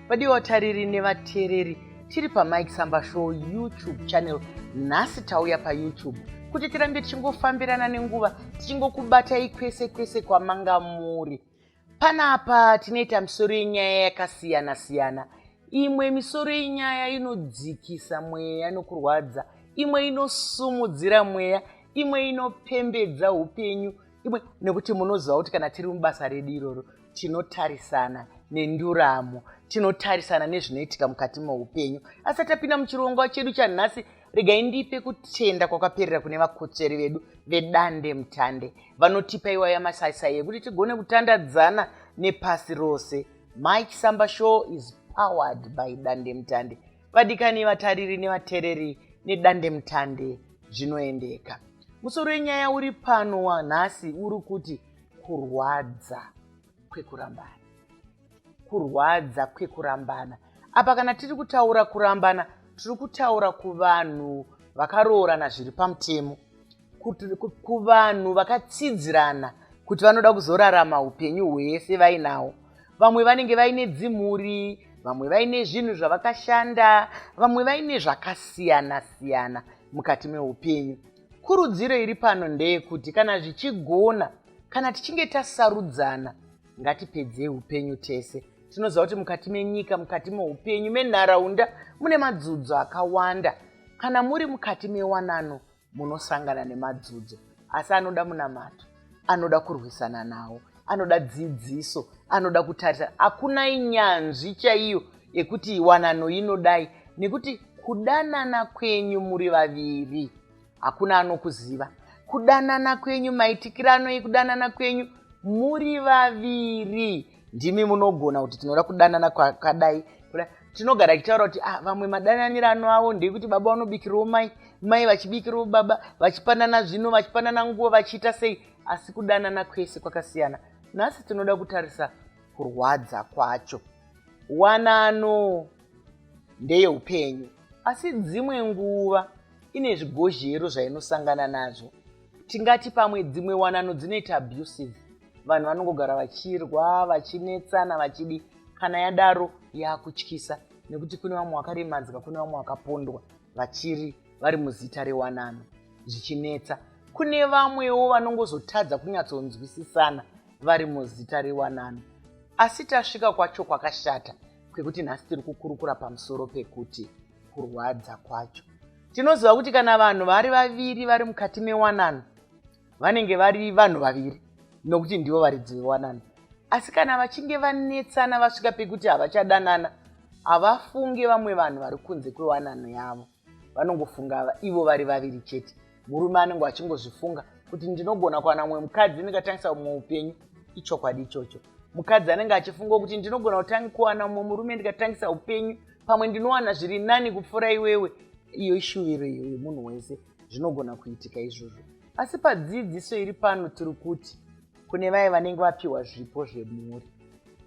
vadii vatariri nevateereri tiri pamike samba show youtube channel nhasi tauya payoutube kuti tirambe tichingofambirana nenguva tichingokubatai kwese kwese kwamanga muri panapa tinoita misoro yenyaya yakasiyana siyana imwe misoro yenyaya inodzikisa mweya nokurwadza imwe inosumudzira mweya imwe inopembedza upenyu imwe nekuti munoziva kuti kana tiri mubasa redu iroro tinotarisana nenduramo tinotarisana nezvinoitika mukati meupenyu asi tapinda muchirongwa chedu chanhasi regai ndipe kutenda kwakaperera kune vakotsveri vedu vedande mutande vanotipa iwaya masaisai ekuti tigone kutandadzana nepasi rose mike samba show is powered by dande mutande vadikani vatariri nevatereri nedande mutande zvinoendeka musoro wenyaya uri pano wanhasi uri kuti kurwadza kwekurambana kurwadza kwekurambana apa kana tiri kutaura kurambana tiri kutaura kuvanhu vakaroorana zviri pamutemo kuvanhu vakatsidzirana kuti vanoda kuzorarama upenyu hwese vainawo vamwe vanenge vaine dzimhuri vamwe vaine zvinhu zvavakashanda vamwe vaine zvakasiyana siyana mukati meupenyu kurudziro iri pano ndeyekuti kana zvichigona kana tichinge tasarudzana ngatipedzei upenyu tese tinoziva kuti mukati menyika mukati meupenyu menharaunda mune madzudzo akawanda kana muri mukati mewanano munosangana nemadzudzo asi anoda munamato anoda kurwisana nawo anoda dzidziso anoda kutarisa hakuna inyanzvi chaiyo yekuti wanano inodai nekuti kudanana kwenyu muri vaviri hakuna anokuziva kudanana kwenyu maitikirano ekudanana kwenyu muri vaviri ndimi munogona kuti tinoda kudanana kwakadai tinogara tichitaura kuti ah, vamwe madananiro ano avo ndekuti baba vanobikirwo mai mai vachibikirwo baba vachipanana zvino vachipanana nguva vachiita sei asi kudanana kwese kwakasiyana nhasi tinoda kutarisa kurwadza kwacho wanano ndeyeupenyu asi dzimwe nguva ine zvigozhero zvainosangana nazvo tingati pamwe dzimwe wanano dzinoita abusive vanhu vanongogara vachirwa vachinetsana vachidi kana yadaro yakutyisa nekuti kune vamwe vakaremadzwa kune vamwe vakapondwa vachiri vari muzita rewanano zvichinetsa kune vamwewo vanongozotadza kunyatsonzwisisana vari muzita rewanano asi tasvika kwacho kwakashata kwekuti nhasi tiri kukurukura pamusoro pekuti kurwadza kwacho tinoziva kuti kana vanhu vari vaviri vari mukati mewanano vanenge vari vanhu vaviri nokuti ndivo varidzi vewanano asi kana vachinge vanetsana vasvika pekuti havachadanana havafunge vamwe vanhu vari kunze kwewanano yavo vanongofunga ivo vari vaviri chete murume anenge achingozvifunga kuti ndinogona kuwana mumwe mukadzi ndingatangisa mumwe upenyu ichokwadi ichocho mukadzi anenge achifunga kuti ndinogona kutangi kuwana mumwe murume ndikatangisa upenyu pamwe ndinowana zviri nani kupfuura iwewe iyo ishuviro iyo yemunhu wese zvinogona kuitika izvozvo asi padzidziso iri pano tiri kuti kune vaye vanenge vapiwa zvipo zvemhuri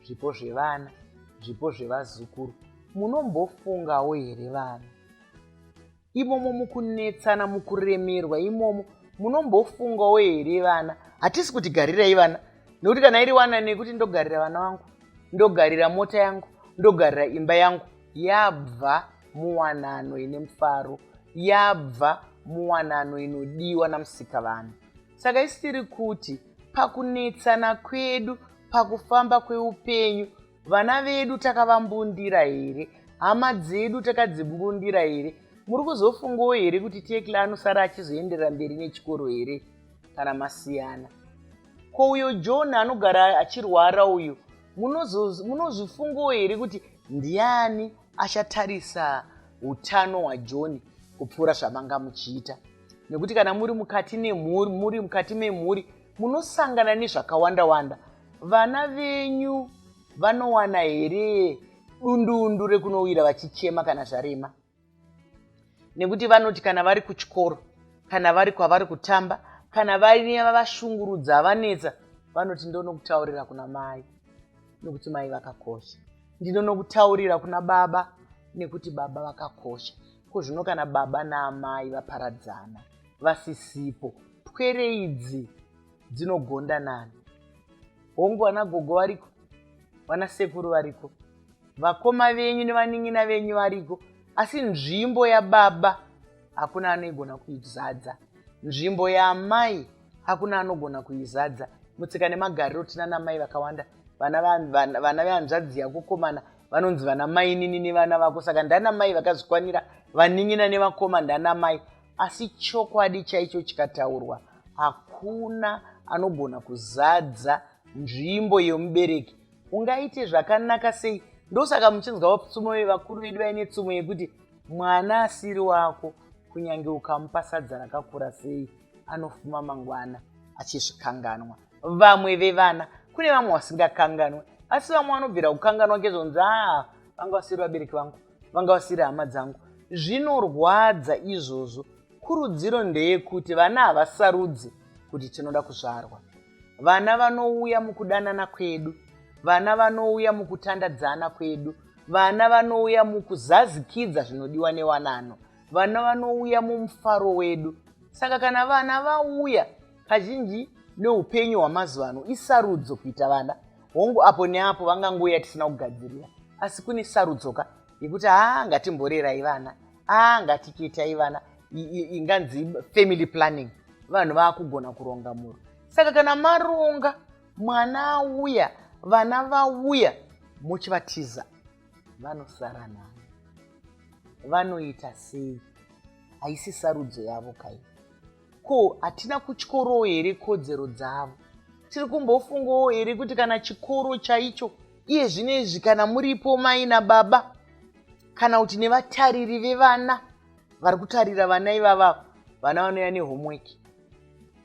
zvipo zvevana zvipo zvevazukuru munombofungawo here vana imomo mukunetsana mukuremerwa imomo munombofungawo here vana hatisi kuti garirai vana nekuti kana iri wana nekuti ndogarira vana vangu ndogarira mota yangu ndogarira imba yangu yabva muwanano ine mufaro yabva muwanano inodiwa namusika vanhu saka isiri kuti pakunetsana kwedu pakufamba kweupenyu vana vedu takavambundira here hama dzedu takadzimbundira here muri kuzofungawo here kuti tekla anosara achizoenderera mberi nechikoro here kana masiyana ko uyo john anogara achirwara uyu munozvifungawo here kuti ndiani achatarisa utano hwajohn kupfuura zvamanga muchiita nekuti kana muri mukati nemhuri muri mukati memhuri munosangana nezvakawanda-wanda. Vana venyu vanowana here dundundu rekunowira vachichema kana zvarema? Nekuti vanoti kana vari kuchikoro, kana vari kwavari kutamba, kana vaine vavashungurudza vanetsa, vanoti ndonokutaurira kuna mai nekuti mai vakakosha, ndinonokutaurira kuna baba nekuti baba vakakosha. Ko zvino kana baba naamai vaparadzana? vasisipo pwere idzi dzinogonda nani hongu vana gogo variko vana sekuru variko vakoma venyu nevanin'ina venyu variko asi nzvimbo yababa hakuna anoigona kuizadza nzvimbo yaamai hakuna anogona kuizadza mutsika nemagariro tina namai vakawanda vana vehanzvadzi yakukomana vanonzi vana mainini nevana vako saka ndanamai vakazvikwanira vanin'ina nevakoma ndanamai asi chokwadi chaicho chikataurwa hakuna anogona kuzadza nzvimbo yemubereki ungaite zvakanaka sei ndosaka muchinzwa vapfumo vevakuru vedu vaine tsumo yekuti mwana asiri wako kunyange ukamupa sadza rakakura sei anofuma mangwana achizvikanganwa vamwe vevana kune vamwe vasingakanganwe asi vamwe vanobvira kukanganwa ngezvonzi aa ah, vanga vasiri vabereki vangu vanga vasiri hama dzangu zvinorwadza izvozvo kurudziro ndeyekuti vana havasarudzi kuti tinoda kuzvarwa vana vanouya mukudanana kwedu vana vanouya mukutandadzana kwedu vana vanouya mukuzazikidza zvinodiwa newanano vana vanouya mumufaro wedu saka kana vana vauya kazhinji neupenyu hwamazuva ano isarudzo kuita vana hongu apo neapo vangangouya tisina kugadzirira asi kune sarudzoka yekuti haa ngatimborerai vana aa ngatiketai vana inganzi family planning vanhu vaakugona kuronga mhuri saka kana maronga mwana auya vana vauya muchivatiza vanosara navo vanoita sei haisi sarudzo yavo kai Ko hatina kutyorowo here kodzero dzavo? Tiri kumbofungawo here kuti kana chikoro chaicho iye zvino izvi kana muripo mai nababa kana kuti nevatariri vevana vari kutarira vana ivavavo vana vanouya nehomework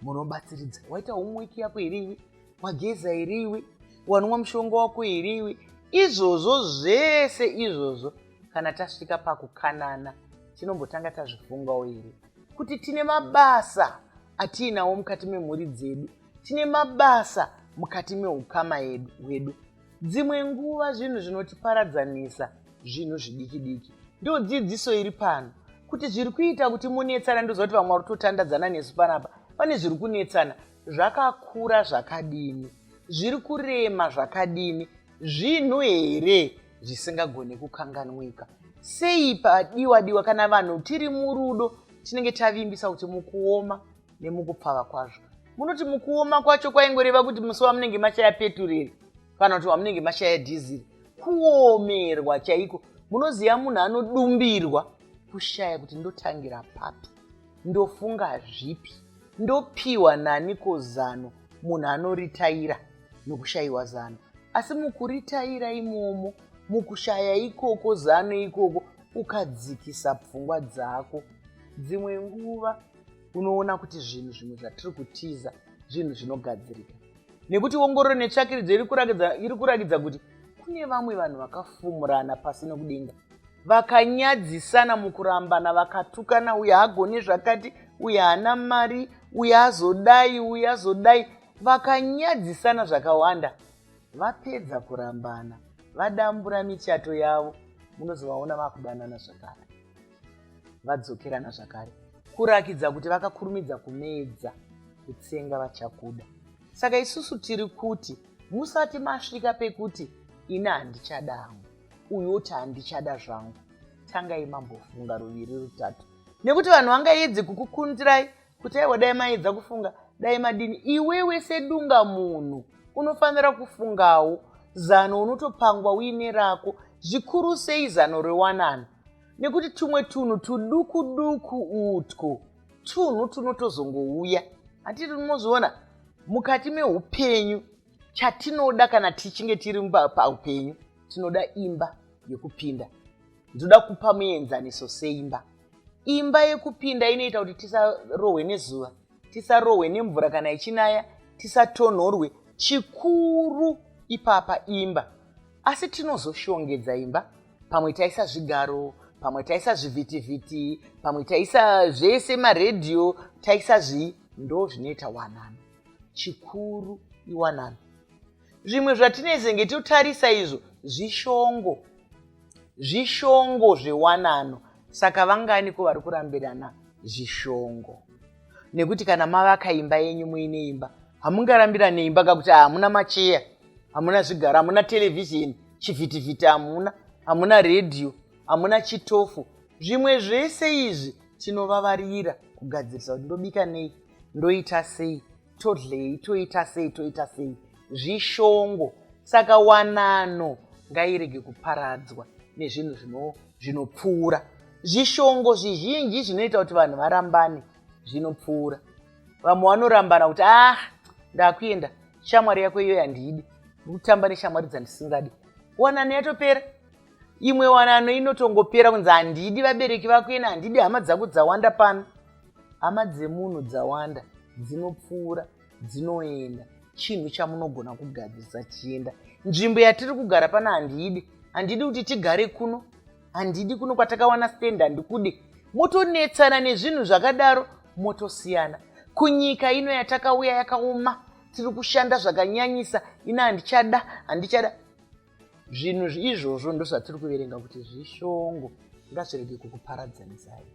munobatsiridza waita homework yako here iwe wageza here iwe wanwa mushonga wako here iwe izvozvo zvese izvozvo kana tasvika pakukanana tinombotanga tazvifungawo here kuti tine mabasa atiinawo mukati memhuri dzedu tine mabasa mukati meukama hwedu dzimwe nguva zvinhu zvinotiparadzanisa zvinhu zvidiki diki ndo dzidziso iri pano kuti zviri kuita kuti munetsana ndoziva kuti vamwe vari kutotandadzana nesu panapa pane zviri kunetsana zvakakura zvakadini zviri kurema zvakadini zvinhu here zvisingagone kukanganwika sei padiwa diwa kana vanhu tiri murudo tinenge tavimbisa kuti mukuoma nemukupfava kwazvo munoti mukuoma kwacho kwaingoreva kuti musi wamunenge mashaya petureri kana kuti wamunenge mashaya dhiziri kuomerwa chaiko munoziva munhu anodumbirwa kushaya kuti ndotangira papi ndofunga zvipi ndopiwa nani ko zano munhu anoritaira nokushayiwa zano asi mukuritaira imomo mukushaya ikoko zano ikoko ukadzikisa pfungwa dzako dzimwe nguva unoona kuti zvinhu zvimwe zvatiri kutiza zvinhu zvinogadzirika nekuti ongororo netsvakiridzo iri kurakidza iri kurakidza kuti kune vamwe vanhu vakafumurana pasi nokudenga vakanyadzisana mukurambana vakatukana uye hagone zvakati uye haana mari uye azodai uye azodai vakanyadzisana zvakawanda vapedza kurambana vadambura michato yavo munozovaona vakudanana zvakare vadzokerana zvakare kurakidza kuti vakakurumidza kumedza kutsenga vachakuda saka isusu tiri kuti musati masvika pekuti ini handichada hangu uyu oti handichada zvangu tangai mambofunga ruviri rutatu nekuti vanhu vangaedzi kukukundirai kuti aiwa dai maedza kufunga dai madini iwewe sedunga munhu unofanira kufungawo zano unotopangwa uine rako zvikuru sei zano rewanano nekuti tumwe tunhu tuduku duku utwo tunhu tunotozongouya hatiti tinozviona mukati meupenyu chatinoda kana tichinge tiri paupenyu tinoda imba yekupinda ndoda kupa muenzaniso seimba imba yekupinda inoita kuti tisarohwe nezuva tisarohwe nemvura kana ichinaya tisatonhorwe chikuru ipapa imba asi tinozoshongedza imba pamwe taisa zvigaro pamwe taisa zvivhitivhiti pamwe taisa zvese maredhiyo taisa zvii ndo zvinoita wanano chikuru iwanano zvimwe zvatinezenge totarisa izvo zvishongo zvishongo zvewanano saka vanganiko vari kurambirana zvishongo nekuti kana mavaka imba yenyu muine imba hamungarambirane imba kakuti hamuna macheya hamuna zvigaro hamuna televhizheni chivhitivhiti hamuna hamuna redhiyo hamuna chitofu zvimwe zvese izvi tinovavarira kugadzirisa kuti ndobika nei ndoita sei todlei toita sei toita sei zvishongo saka wanano ngairege kuparadzwa nezvinhu zvinopfuura zvishongo zvizhinji zvinoita kuti vanhu varambane zvinopfuura vamwe vanorambana kuti ah ndakuenda shamwari yako iyoyo handiidi ndikutamba neshamwari dzandisingadi wanano yatopera imwe wanano inotongopera kunzi handidi vabereki vako ina handidi hama dzako dzawanda pano hama dzemunhu dzawanda dzinopfuura dzinoenda chinhu chamunogona kugadzirisa chienda nzvimbo yatiri kugara pano handidi handidi kuti tigare kuno handidi kuno kwatakawana stand handikudi motonetsana nezvinhu zvakadaro motosiyana kunyika ino yatakauya yakaoma tiri kushanda zvakanyanyisa ina handichada handichada zvinhu izvozvo ndozvatiri kuverenga kuti zvishongo ngazvirege kukuparadzanisayi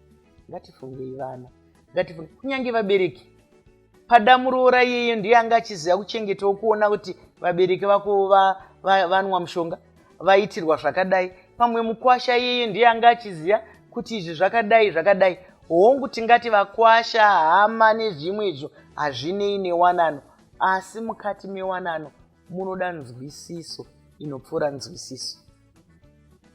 ngatifungei vana ngatifunge kunyange vabereki pada muroora iyeyo ndiye anga achiziva kuchengetawo kuona kuti vabereki vako vanwa va, va, va mushonga vaitirwa zvakadai pamwe mukwasha iyeyo ndiye anga achiziva kuti izvi zvakadai zvakadai hongu tingati vakwasha hama nezvimwe izvo hazvinei newanano asi mukati mewanano munoda nzwisiso inopfuura nzwisiso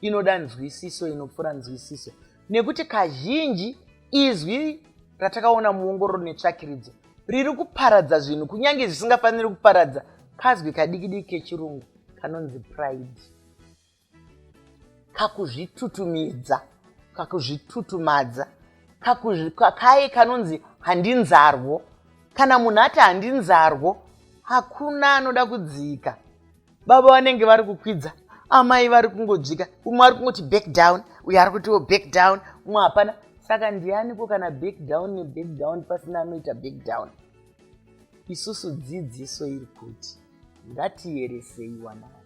inoda nzwisiso inopfuura nzwisiso nekuti kazhinji izwi ratakaona muongororo netsvakiridzo riri kuparadza zvinhu kunyange zvisingafaniri kuparadza kazwi kadikidiki kechirungu kanonzi pride kakuzvitutumidza kakuzvitutumadza kaye kanonzi handinzarwo kana munhu ati handinzarwo hakuna anoda kudzika baba vanenge vari kukwidza amai vari kungodzika umwe ari kungoti back down uyo ari kutiwo back down umwe hapana saka ndianiko kana back down neback down pasina anoita back down isusu dzidziso iri kuti ngatieresei wanani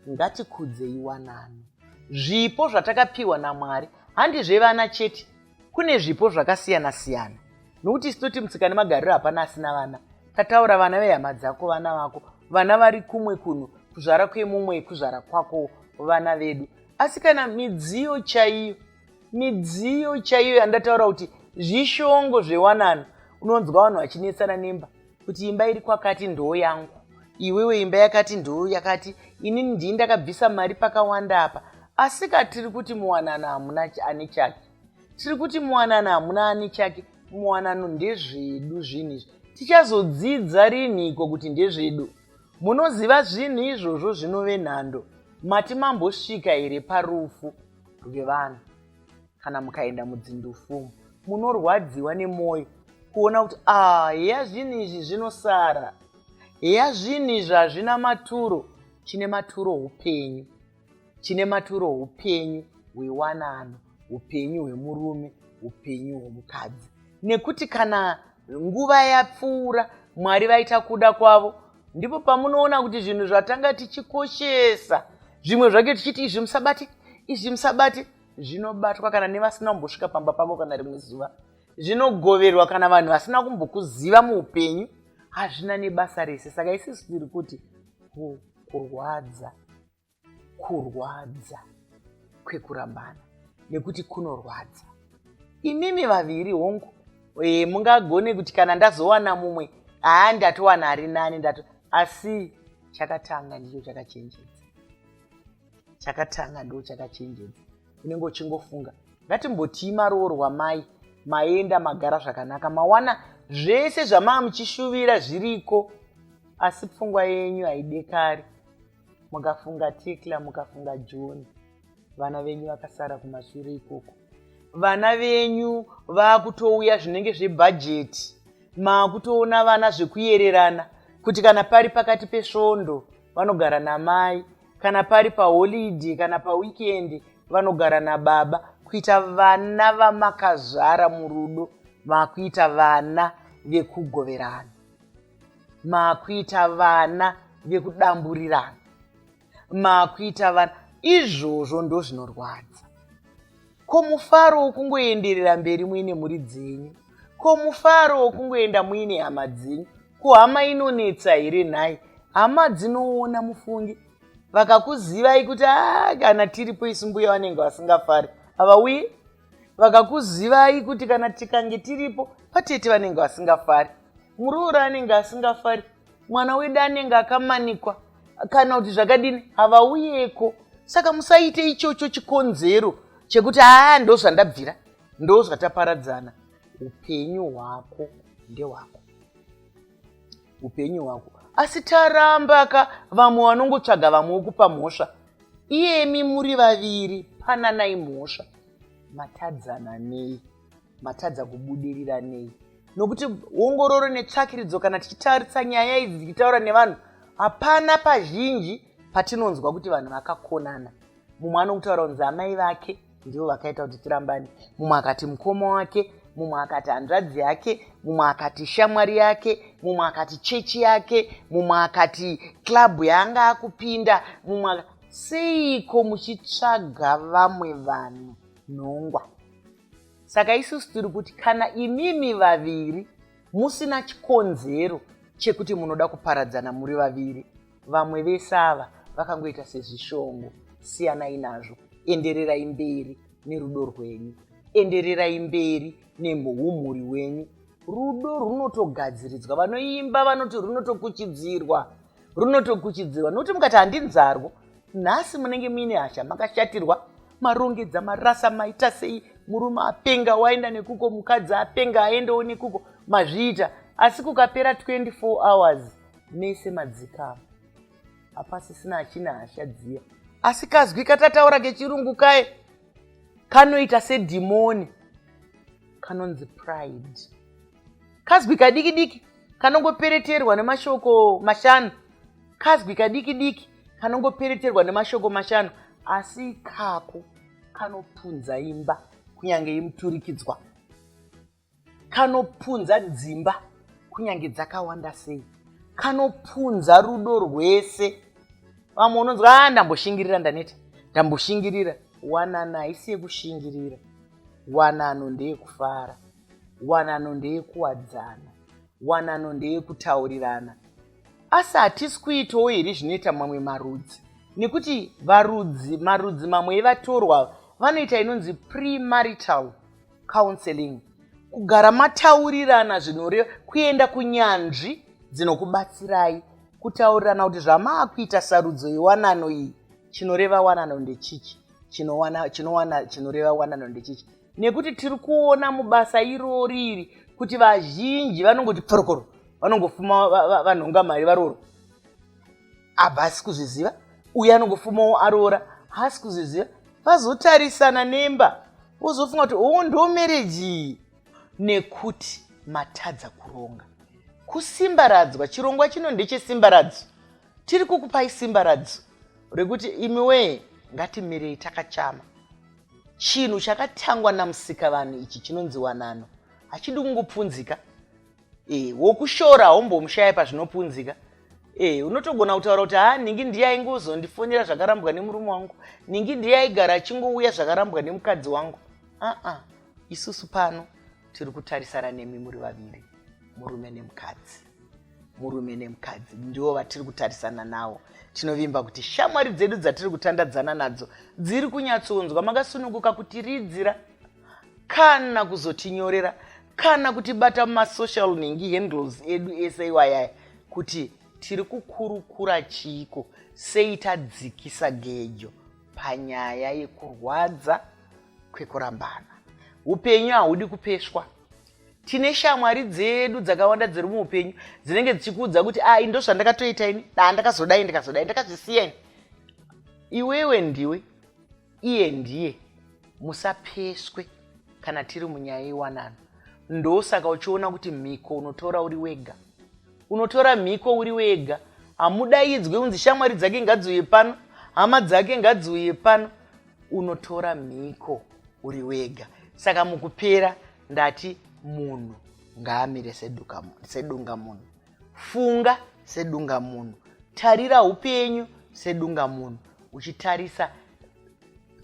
ngatikudzei wanani zvipo zvatakapiwa namwari handizve vana chete kune zvipo zvakasiyana siyana nokuti isu toti mutsika nemagariro hapana asina vana tataura vana vehama dzako vana vako vana vari kumwe kuno kuzvara kwemumwe kuzvara kwako vana vedu asi kana midziyo chaiyo midziyo chaiyo yandataura kuti zvishongo zvewanano unonzwa vanhu vachinetsana nemba kuti imba iri kwakati ndoo yangu iwewe imba yakati ndoo yakati ini ndii ndakabvisa mari pakawanda apa asika tiri kuti muwanano hamuna ane chake tiri kuti muwanano hamuna ane chake muwanano ndezvedu zvinhu izvi tichazodzidza rinhiko kuti ndezvedu munoziva zvinhu izvozvo zvinove nhando mati mambosvika here parufu rwevanhu kana mukaenda mudzindufumu munorwadziwa nemwoyo kuona kuti ah heya zvinhu izvi zvinosara heya zvinhu izvi hazvina maturo chine maturo upenyu chine maturo upenyu hwewanano upenyu hwemurume upenyu hwemukadzi nekuti kana nguva yapfuura mwari vaita kuda kwavo ndipo pamunoona kuti zvinhu zvatanga tichikoshesa zvimwe zvake tichiti izvi musabate izvi musabate zvinobatwa kana nevasina kumbosvika pamba pavo kana rimwe zuva zvinogoverwa kana vanhu vasina kumbokuziva muupenyu hazvina nebasa rese saka isisu tiri kuti kurwadza kurwadza kwekurambana nekuti kunorwadza imimi vaviri hongu e, mungagone kuti kana ndazowana mumwe haa ndatowana ari nani ndato asi chakatanga ndicho chakachenjedza chakatanga ndo chakachenjedza unenge uchingofunga ngatimbotii maroorwa mai maenda magara zvakanaka mawana zvese zvamaa muchishuvira zviriko asi pfungwa yenyu haidekari mukafunga tekla mukafunga john vana venyu vakasara kumashure ikoko vana venyu vaakutouya zvinenge zvebhajeti maakutoona vana zvekuyererana kuti kana pari pakati pesvondo vanogara namai kana pari paholidhe kana pawikendi vanogara nababa kuita vana vamakazvara murudo maakuita vana vekugoverana makuita vana vekudamburirana makuita vana izvozvo ndo zvinorwadza ko mufaro wokungoenderera mberi muine mhuri dzenyu ko mufaro wokungoenda muine hama dzenyu ko hama inonetsa here nhai hama dzinoona mufungi vakakuzivai kuti a ah, kana tiripo isu mbuya vanenge vasingafari havauyi vakakuzivai kuti kana tikange tiripo patete vanenge vasingafari muroora anenge asingafari mwana wedu anenge akamanikwa kana kuti zvakadini havauyeko saka musaite ichocho chikonzero chekuti haa ndo zvandabvira ndo zvataparadzana upenyu hwako ndehwako upenyu hwako asi taramba ka vamwe vanongotsvaga vamwe wokupa mhosva iyemi muri vaviri pananai mhosva matadzana nei matadza kubudirira nei nokuti ongororo netsvakiridzo kana tichitarisa nyaya idzi dzichitaura nevanhu hapana pazhinji patinonzwa kuti vanhu vakakonana mumwe anokutaura kunzi amai vake ndivo vakaita kuti tirambane mumwe akati mukoma wake mumwe akati hanzvadzi yake mumwe akati shamwari yake mumwe akati chechi yake mumwe akati club yaanga akupinda mumwe seiko muchitsvaga vamwe vanhu nhongwa saka isusu tiri kuti kana imimi vaviri musina chikonzero chekuti munoda kuparadzana muri vaviri vamwe vese ava vakangoita sezvishongo siyanai nazvo endererai mberi nerudo rwenyu endererai mberi nemhumhuri wenyu rudo runotogadziridzwa vanoimba vanoti runotokuchidzirwa runotokuchidzirwa nokuti mukati handinzarwo nhasi munenge muine hasha makashatirwa marongedza marasa maita sei murume apenga waenda nekuko mukadzi apenga aendewo nekuko mazviita asi kukapera 24 hours mese madzikama hapasisina achina hasha dziya asi kazwi katataura kechirungu kaye kanoita sedhimoni kanonzi pride kazwi kadiki diki kanongopereterwa nemashoko mashanu kazwi kadiki diki kanongopereterwa nemashoko mashanu asi ikako kanopunza imba kunyange imuturikidzwa kanopunza dzimba kunyange dzakawanda sei kanopunza rudo rwese vamwe unonzwa a ah, ndamboshingirira ndaneta ndamboshingirira wanana haisi yekushingirira wanano ndeyekufara wanano ndeyekuwadzana wanano ndeyekutaurirana asi hatisi kuitawo here zvinoita mamwe marudzi nekuti varudzi marudzi mamwe evatorwa vanoita inonzi premarital counseling kugara mataurirana zvinoreva kuenda kunyanzvi dzinokubatsirai kutaurirana kuti zvamaakuita sarudzo yewanano iyi chinoreva wanano ndechichi chinowana chinowana chinoreva wanano ndechichi nekuti tiri kuona mubasa irori iri kuti vazhinji vanongoti pforokoro vanongofuma vanhonga mari varoro abva asi kuzviziva uye anongofumawo aroora haasi kuzviziva vazotarisana nemba wozofunga kuti oo oh, ndo mereji nekuti matadza kuronga kusimbaradzwa chirongwa chino ndechesimbaradzwa tiri kukupai simbaradzwa rekuti imi wee ngatimirei takachama chinhu chakatangwa namusika vanhu ichi chinonzi wanano hachidi kungopfunzika e, wokushora haumbomushaya pazvinopunzika e, unotogona kutaura kuti haa ningi ndiye aingozondifonera zvakarambwa nemurume wangu ningi ndiye aigara achingouya zvakarambwa nemukadzi wangu aa isusu pano tiri kutarisana nemi muri vaviri murume nemukadzi murume nemukadzi ndivo vatiri kutarisana nawo tinovimba kuti shamwari dzedu dzatiri kutandadzana nadzo dziri kunyatsonzwa makasununguka kutiridzira kana kuzotinyorera kana kutibata mumasocial nhingi handles edu ese iwayaya kuti tiri kukurukura chiiko sei tadzikisa gejo panyaya yekurwadza kwekurambana upenyu hahudi kupeswa tine shamwari dzedu dzakawanda dziri muupenyu dzinenge dzichikuudza kuti ai ah, ndozvandakatoita ini daa ndakazodai ndikazodai ndakazvisiya ini iwewe ndiwe iye ndiye musapeswe kana tiri munyaya yewanano ndosaka uchiona kuti mhiko unotora uri wega unotora mhiko uri wega hamudaidzwe unzi shamwari dzake ngadziuye pano hama dzake ngadziuye pano unotora mhiko uri wega saka mukupera ndati munhu ngaamire sedunga munhu funga sedunga munhu tarira upenyu sedunga munhu uchitarisa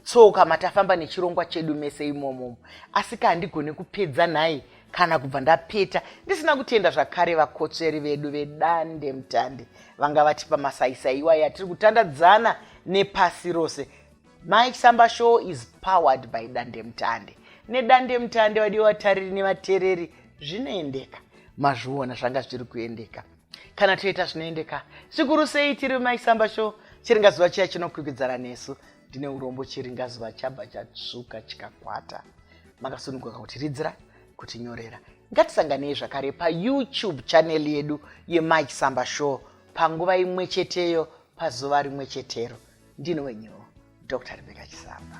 tsoka matafamba nechirongwa chedu mese imomomo asi ka handigone kupedza nhai kana kubva ndapeta ndisina kutenda zvakare vakotsveri vedu vedande mutande vanga vatipa masaisai iwayo atiri kutandadzana nepasi rose Mike Samba Show is powered by Dandemutande. NeDandemutande vadiwa vatariri nevatereri zvinoendeka. Mazviona zvanga zviri kuendeka. Kana toita zvinoendeka, zvikuru sei tiri Mike Samba Show, chiringazuva chiya chinokwikwidzana nesu. Ndine urombo chiringazuva chabva chatsvuka chikakwata. Makasununguka kuti ridzira, kuti nyorera. Ngatisanganei zvakare paYouTube channel yedu yeMike Samba Show panguva imwe cheteyo pazuva rimwe chetero. ndini wenyu dr rebeka chisamba